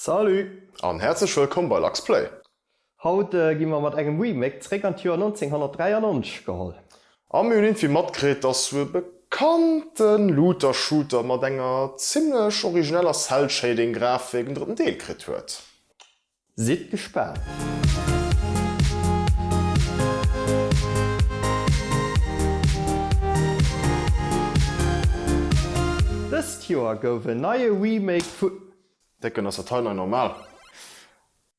Salut! An häerzlech wëllkomm bei Lux Play! Haut gi mer mat engem Remake zréck an d'Joer 1993 geholl. A mir hunn iergendwéi matkritt, dass sou e bekannte Looter-Shooter mat enger zimmlech origineller Cell-Shading-Grafik en drëtten Deel kritt huet. Sidd gespaant! Dëst Joer gouf en neie Remake vu. Décken, ass dat hei nei normal?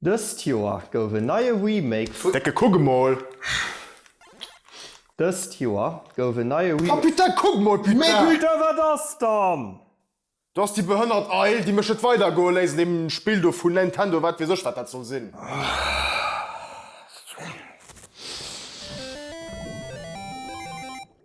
Dëst Joer gouf en neie Remake vun. Décken, kuck emol! Dëst Joer gouf en neie Remake. Oh putain, kuck emol putain! Mee putain, wat ass dann? Do ass déi behënnert Eil, déi mech net weidergoe léisst an deem Spill do vun Nintendo, wat weess ech, wat dat soll sinn.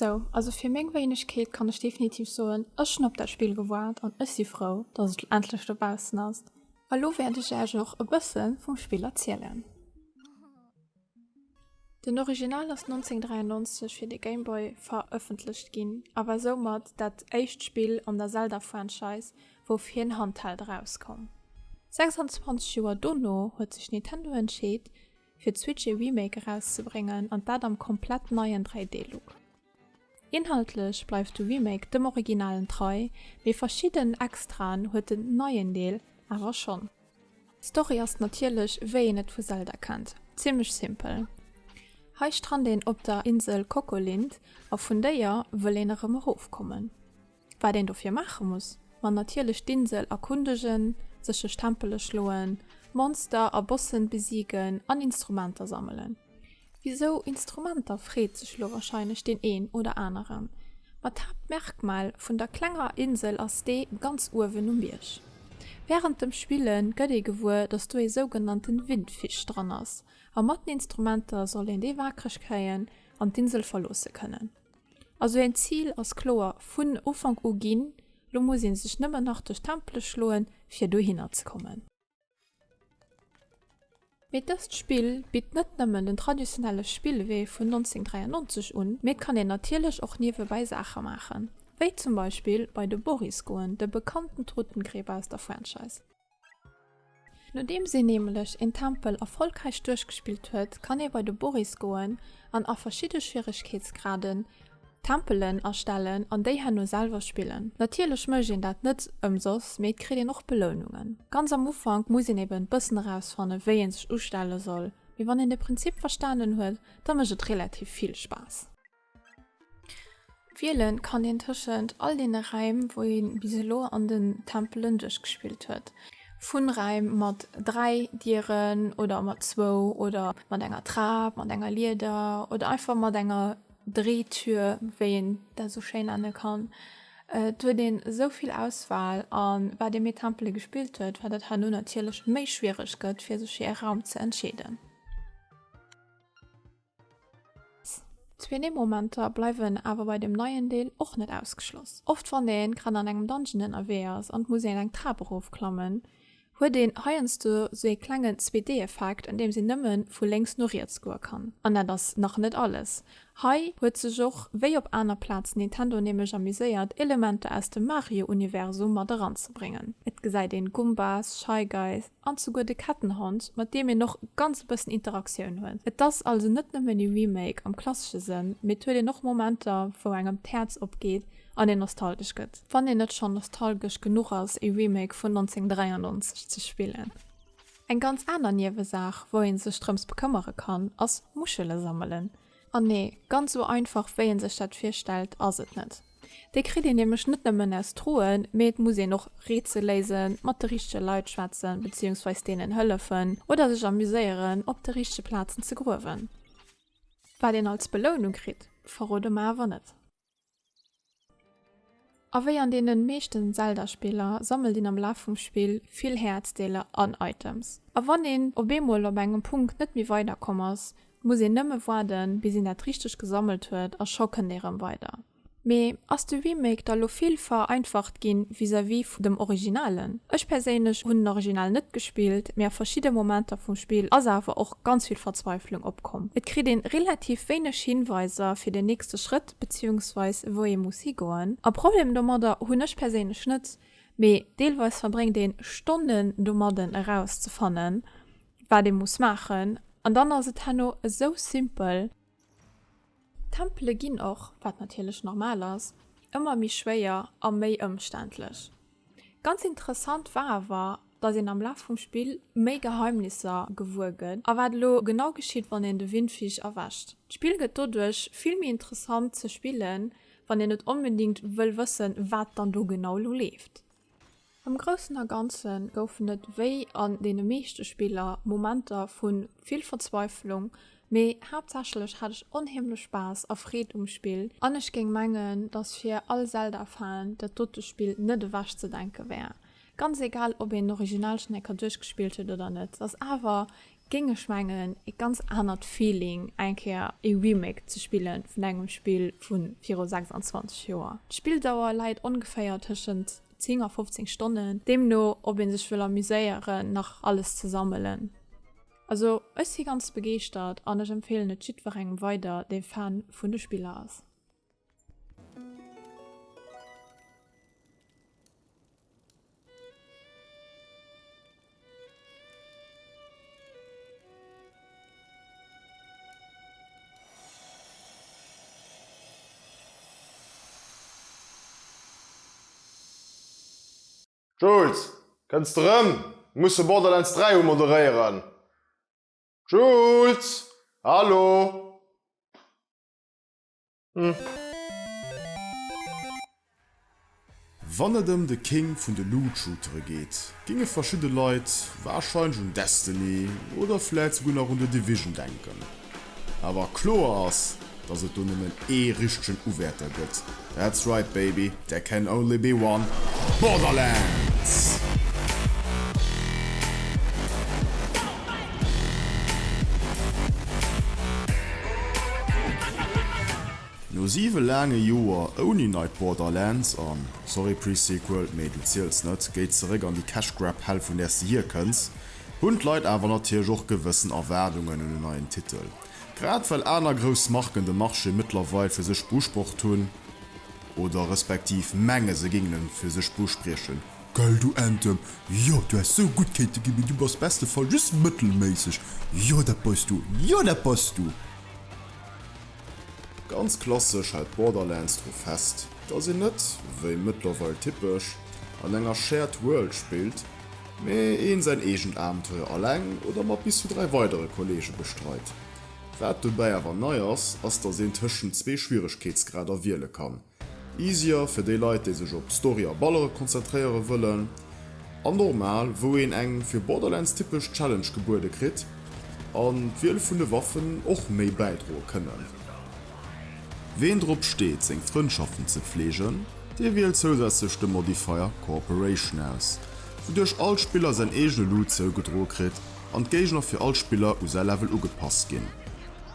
Sou, also fir meng Wéinegkeet kann ech definitiv soen, ech hunn op dat Spill gewaart an ech si frou, datt et endlech dobaussen ass. A lo wäert ech Iech och e bësse vum Spill erzielen. Den Original ass 1993 fir de Game Boy verëffentlecht ginn a war soumat dat éischt Spill an der Zelda-Franchise, wou fir en Handheld erauskoum. 26 Joer dono huet sech Nintendo entscheet, fir d'Switch ee Remake erauszebréngen, an dat am komplett neien 3D-Look. Inhaltlech bleift de Remake dem Originalen trei, mee verschidden Extraen huet den neien Deel awer schonn. D'Story ass natierlech, wéi een et vu Zelda kennt, zimmlech simpel. Hei strannt een op der Insel Kokolind a vun déier wëll een erëm erofkommen. Wat een dofir maache muss? Ma natierlech d'Insel erkundegen, sech duerch Tempele schloen, Monster a Bossen besiegen an Instrumenter sammelen. Wisou Instrumenter freet sech lo warscheinlech deen een oder aneren. Ma d'Haaptmerkmal vun der klenger Insel ass dee ganz uewen um Bierg. Wärend dem Spille gëtt ee gewuer, dass do ee sougenannte Windfisch dran ass a mat den Instrumenter soll een dee waakreg kréien an d'Insel verloosse kënnen. Also een Zil ass kloer vun Ufank u ginn, lo muss een sech nëmmen nach duerch d'Tempele schloen fir dohinner ze kommen. Mee dëst Spill bitt net nëmmen den traditionelle Spillwee vun 1993 un, mee et kann een natierlech och niewebäi Saache maachen, wéi zum Beispill bei de Boris goen, de bekannten Totengräber aus der Franchise. Nodeems een nämlech een Tempel erfolgräich duerchgespillt huet, kann ee bei de Boris goen an a verschidde Schwieregkeetsgraden Tempelen erstellen an déi herno selwer spillen. Natierlech mécht een dat net ëmsoss, mee et kritt een och Belounungen. Ganz am Ufank muss een eben bëssen erausfannen wéi een sech ustelle soll, mee wann een de Prinzip verstanen huet, da mécht et relativ vill Spaass. Wielen kann een tëschent all deene Räim, wou ee bis elo an den Tempelen duerchgespillt huet. Vun Räim mat dräi Dieren oder mat zwou oder mat enger Trap, mat enger Lieder oder einfach mat enger Drehtür, wéi een dat esou schéin nenne kann. Et huet een esou vill Auswahl a wat ee méi Tempele gespillt huet, wat et herno natierlech méi schwiereg gëtt, fir sech fir e Raum ze entscheeden. D'Sweeney Momenter bleiwen awer bei dem neien Deel och net ausgeschloss. Oft wann een grad an engem Dungeon ënnerwee ass an et muss een eng Trap erof klammen, huet een heiansdo sou ee klengen 2D Effekt an deems een nëmmen vu lénks no riets goe kann. An dat ass nach net alles, hei huet sech och wéi op aner Plazen Nintendo nämlech amuséiert Elementer aus dem Mario Universum mat eranzebréngen. Et gesäit een Gumbas, Shy Guys, An souguer de Kettenhond, mat deem een och e ganze bëssen Interaktioun huet. Et ass also net nëmmen ee Remake am klassesche Sënn, mee et huet een och Momenter, wou engem d'Häerz opgeet an een nostalgesch gëtt. Wann een net schonn nostalgesch genuch ass, ee Remake vun 1993 ze spillen. Eng ganz aner Niewesaach, wou ee sech drëms bekëmmere kann, ass Muschele sammelen. An nee, ganz sou einfach wéi een sech dat virstellt ass et net. Dee kritt een nämlech net nëmmen aus Droen, mee et muss een och Rätsel léisen, mat de richtege Leit schwätzen, beziehungsweis deenen hëllefen oder sech amuséieren op de richtege Plazen ze gruewen. Wat een als Belounung kritt, verrode mer awer net. A wéi an deenen meeschten Zelda Spiller sammelt een am Laf vum Spill vill Häerzdeeler an Items. A wann een op eemol op engem Punkt net méi weider komm ass, muss een nëmme waarden bis een dat richteg gesammelt huet a scho kënnt ee rëm weider. Mee ass de Remake da lo vill vereinfacht ginn vis-à-vis vun dem Originalen? Ech perséinlech hunn den Original net gespillt, mee a verschidde Momenter vum Spill ass awer och. ganz vill Verzweiflung opkomm. Et kritt een relativ wéineg Hinweiser fir den nächste Schrëtt beziehungsweis wou ee muss higoen. A Problem domadder hunn ech perséinlech net, mee deelweis verbréngt een Stonnen domadden eraus ze fannen wat ee muss maachen an dann ass et herno esou simpel. D'Tempele ginn och, wat natierlech normal ass, ëmmer méi schwéier a méi ëmständlech. Ganz interessant war awer, datt een am Laf vum Spill méi Geheimnisser gewuer gëtt a wat elo genau geschitt, wann een de Windfisch erwescht. D'Spill gëtt doduerch vill méi interessant ze spillen, wann een net onbedingt wëll wëssen, wat dann do genau elo leeft. Am Groussen a Ganze goufen et, wéi an deene meeschte Spiller, Momenter vu vill Verzweiflung, mee haaptsächlech hat ech onheemlech Spaass a Freed um Spill an ech géing mengen, dass fir all Zelda-Fan dat dote Spill net ewech ze denke wär. Ganz egal, ob een d'Originalschneckerduerchgespillt huet oder net, ass awer géing ech mengen ee ganz anert Feeling eng Kéier ee Remake ze spille vun engem Spill vu viru 26 Joer. D'Spilldauer läit ongeféier tëschent 10 a 15 Stonnen, deemno ob ee sech wëll amuséieren nach alles ze sammelen. Also ech si ganz begeeschtert an ech empfeelen et jiddwerengem weider dee Fan vun de Spiller ass. Jules, kënns de rëm? Mir musse Borderlands 3 umoderéieren. Jules, hallo? Wann et ëm de King vun de Loot-Shootere geet, géinge verschidde Leit warscheinlech un Destiny oder vläit souguer nach un The Division denken. Awer kloer ass, dass et do nëmmen ee richtegen Uwäerter gëtt, that's right baby! There can only be one Borderlands! No 7 laange Joer ouni neit Borderlands, an sorry Pre-Sequel, mee du ziels net, géi zeréck an déi Cash Grab Hell vun där s de hierkënns, hunn d'Leit awer natierlech och gewëssen Erwaardungen un en neien Titel. Grad well aner grouss Marken de Marché mëttlerweil fir sech beusprocht hunn, oder respektiv menge se gingen en fir sech buspriechen, Geil du Ente, jo du häss sou gudd kéinte gin, mee du bass beste Fall just mëttelméisseg, jo dat beis du, jo dat bass du. Ganz klassesch hält Borderlands dru fest, dass een net, wéi mëttlerweil typesch, an enger Shared World spillt, mee een säin eegent Abenteuer alleng oder mat bis zu 3 weidere Kollege bestreit. Wat dobäi awer nei ass, ass dass een tëschent zwee Schwieregkeetsgrader wiele kann, Easier fir déi Leit déi sech op Story a Ballere konzentréiere wëllen, an Normal wou een eng fir Borderlands typesch Challenge gebuede kritt, an d'Wiel vun de Waffen och méi bäidroe kënnen. Ween drop steet seng Frëndschaften ze pfleegen, dee wielt zousätzlech de Modifier Cooperation aus, wouduerch all Spiller säin eegene Loot zougedroe kritt, an d'Géigner fir all Spiller u säi Level ugepasst ginn.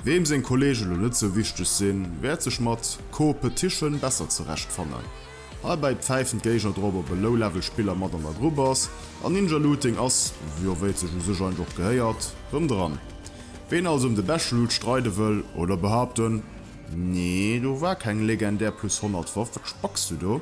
Weem seng Kollege lo net sou wichteg sinn, wäert sech mat Co-petition besser zerecht fannen. Heibäi pfäifen d'Géigner drop op e Low-Level Spiller mat an der Grupp ass, an Ninja Looting ass, jo wéi et sech u sech eigentlech och gehéiert, rëm dran. Ween also ëm de beschte Loot streide wëll, oder behaapten, Nee do war keng legendär plus 100 Waff, wat spacks du do?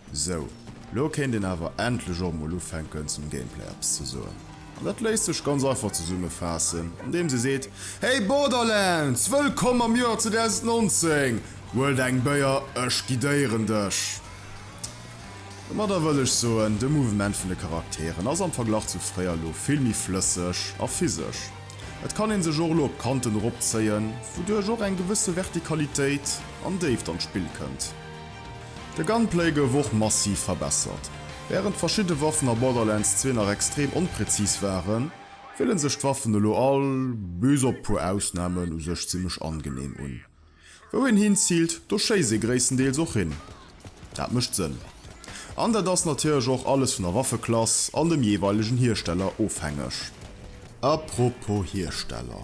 Sou, lo kéint een awer endlech och mol ufänken zum Gameplay eppes ze soen. An dat léisst sech ganz einfach zesummefaassen andeems ee seet, Hey Borderlands, wëllkomm am Joer 2019! Huel der eng Béier, ech guidéieren dech! Domadder wëll ech soen, de Mouvement vun de Charakteren ass am Verglach zu fréier lo vill méi flësseg a physesch. Et kann een sech och lo op d'Kanten eropzéien, wouduerch och eng gewësse Vertikalitéit an Déift an d'Spill kënnt. De Gunplay gouf och massiv verbessert. Wärend verschidde Waffen a Borderlands 2 nach extrem onpräzis waren, fillen sech d'Waffen elo all, bis op puer Ausnamen, u sech zimmlech angenehm un. Wou een hinziilt, do schéisst ee gréisstendeels och hin. Dat mécht Sënn. An dat ass natierlech och alles vun der Waffeklass an dem jeeweilegen Hiersteller ofhängeg. Apropos Hiersteller.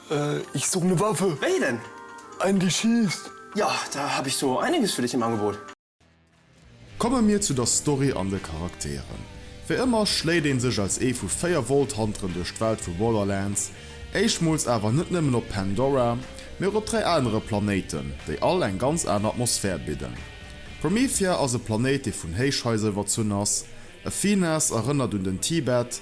Ich suche ne Waffe. Wéi denn? Einen die schießt. Ja, da hab ich so einiges für dich im Angebot. Komme mir zu der Story an de Charakteren. Wéi ëmmer schléit een sech als ee vu 4 Volthanteren duerch d'Welt vu Borderlands, éischmools awer net nëmmen op Pandora, mee och op 3 anere Planéiten, déi all eng ganz aner Atmosphär bidden. Promethea ass e Planéit, dee vun Héichhaiser iwwerzunn ass, Athenas erënnert un den Tibet,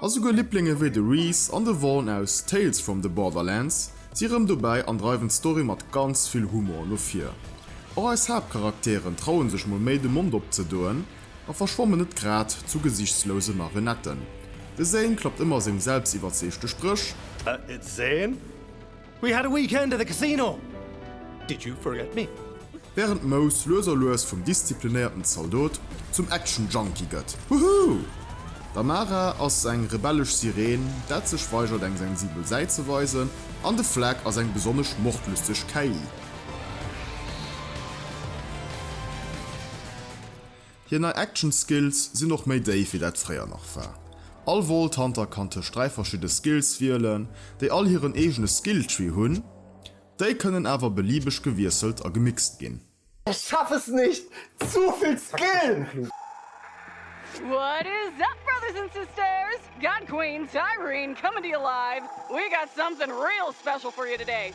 A souguer Libblinge wéi de Rhys an de Vaughn aus Tales from the Borderlands si rëm dobäi an dreiwen d'Story mat ganz vill Humor no vir. Och eis Haaptcharakteren trauen sech mol méi de Mond opzedoen a verschwammen net grad zu gesichtslose Marionetten. De Zane klappt ëmmer seng selbstiwwerzeegte Spréch. We had a weekend at the casino, did you forget me? Wärend Mouse lues a lues vum disziplinéierten Zaldot zum Action Junkie gëtt, Woohoo! D'Amara ass eng rebellesch Sireen, dat sech weigert eng sensibel Säit ze weisen an de Flag ass eng besonnesch mordlüsteg KI. Hir nei Action Skills sinn och méi déif wéi dat fréier nach war. All Vault Hunter kann tëscht 3 verschidde Skills wielen, déi all hiren eegene Skill Tree hunn. Déi kënnen awer beliebeg gewiesselt a gemixt ginn. Ich schaff es nicht! Zu vill Skill! What is up brothers and sisters, God Queen Tyreen coming to you live, we got something real special for you today!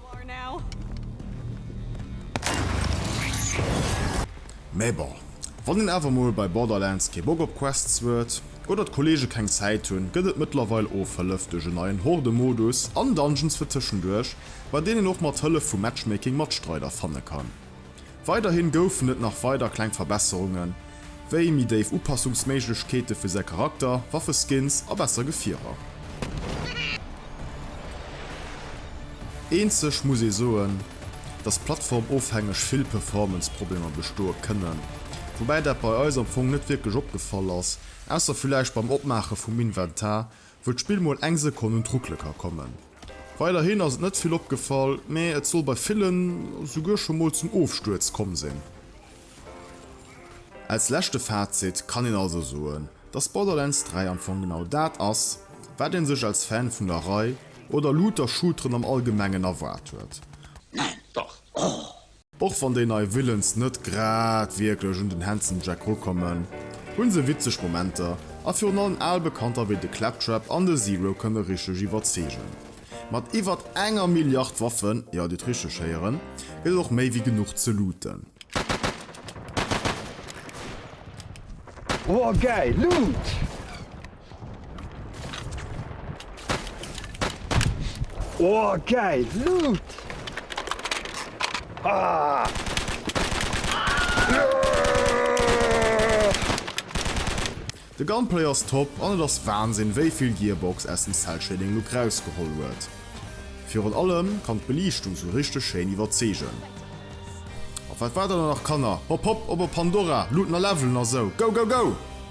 Mä bon, wann een awer mol bei Borderlands kee Bock op Quests huet oder d'Kollege keng Zäit hunn, gëtt et mëttlerweil Ofhëllef duerch en neien Horde-Modus an Dungeons fir tëschenduerch, bei deenen een och mat Hëllef vu Matchmaking Matstreider fanne kann. Weiderhin goufen et nach weider kleng Verbesserungen, wéi méi déif Upassungsméiglechkeete fir säi Charakter, Waffeskins a besser Gefierer. Eenzeg muss ee soen, dass plattformofhängeg vill Performance-Problemer bestoe kënnen, woubäi dat bei eis am Fong net wierklech opgefall ass, ausser villäicht beim Opmaache vum Inventar, Wëll d'Spill mol eng Sekonn un d'Ruckele ka kommen. Weiderhin ass et net vill opgefall, mee et soll bei villen esouguer scho mol zum Ofstuerz komm sinn. Als leschte Fazit kann een also soen, dass Borderlands 3 am Fong genau dat ass, wat een sech als Fan vun der Rei oder Looter-Shooteren am Allgemengen erwaart huet. Neen, dach, ohh! Och wann déi nei Villains net grad wierklech un den Handsome Jack rukommen, hu se witzeg Momenter a virun allem al Bekannter wéi de Claptrap an de Zero kënne richteg iwwerzeegen. Mat iwwert enger Milliard Waffen, jo, dir hutt richteg héieren, gëtt et och méi wéi genuch ze looten. Woah, gäil Loot! Oh geil Loot! Ah! De Gunplay ass top an et ass Wahnsinn wéi vill Gearbox aus dem Cell Shading Look rausgeholl huet. Virun allem kann d'Beliichtung sou richteg schéin iwwerzeegen. Op wat waart der dann nach Kanner? Hop hop op op Pandora, looten a levelen a sou! Go go go!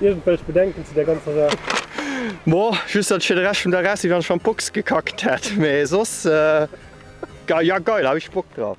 Irgendwelch Bedenken zu der ganzer Saach? Mo, just dat ech fir de Rescht vum Dag aus si wann ech an d'Box gekackt hätt, mee soss geil, ja geil, hu ech Bock drop.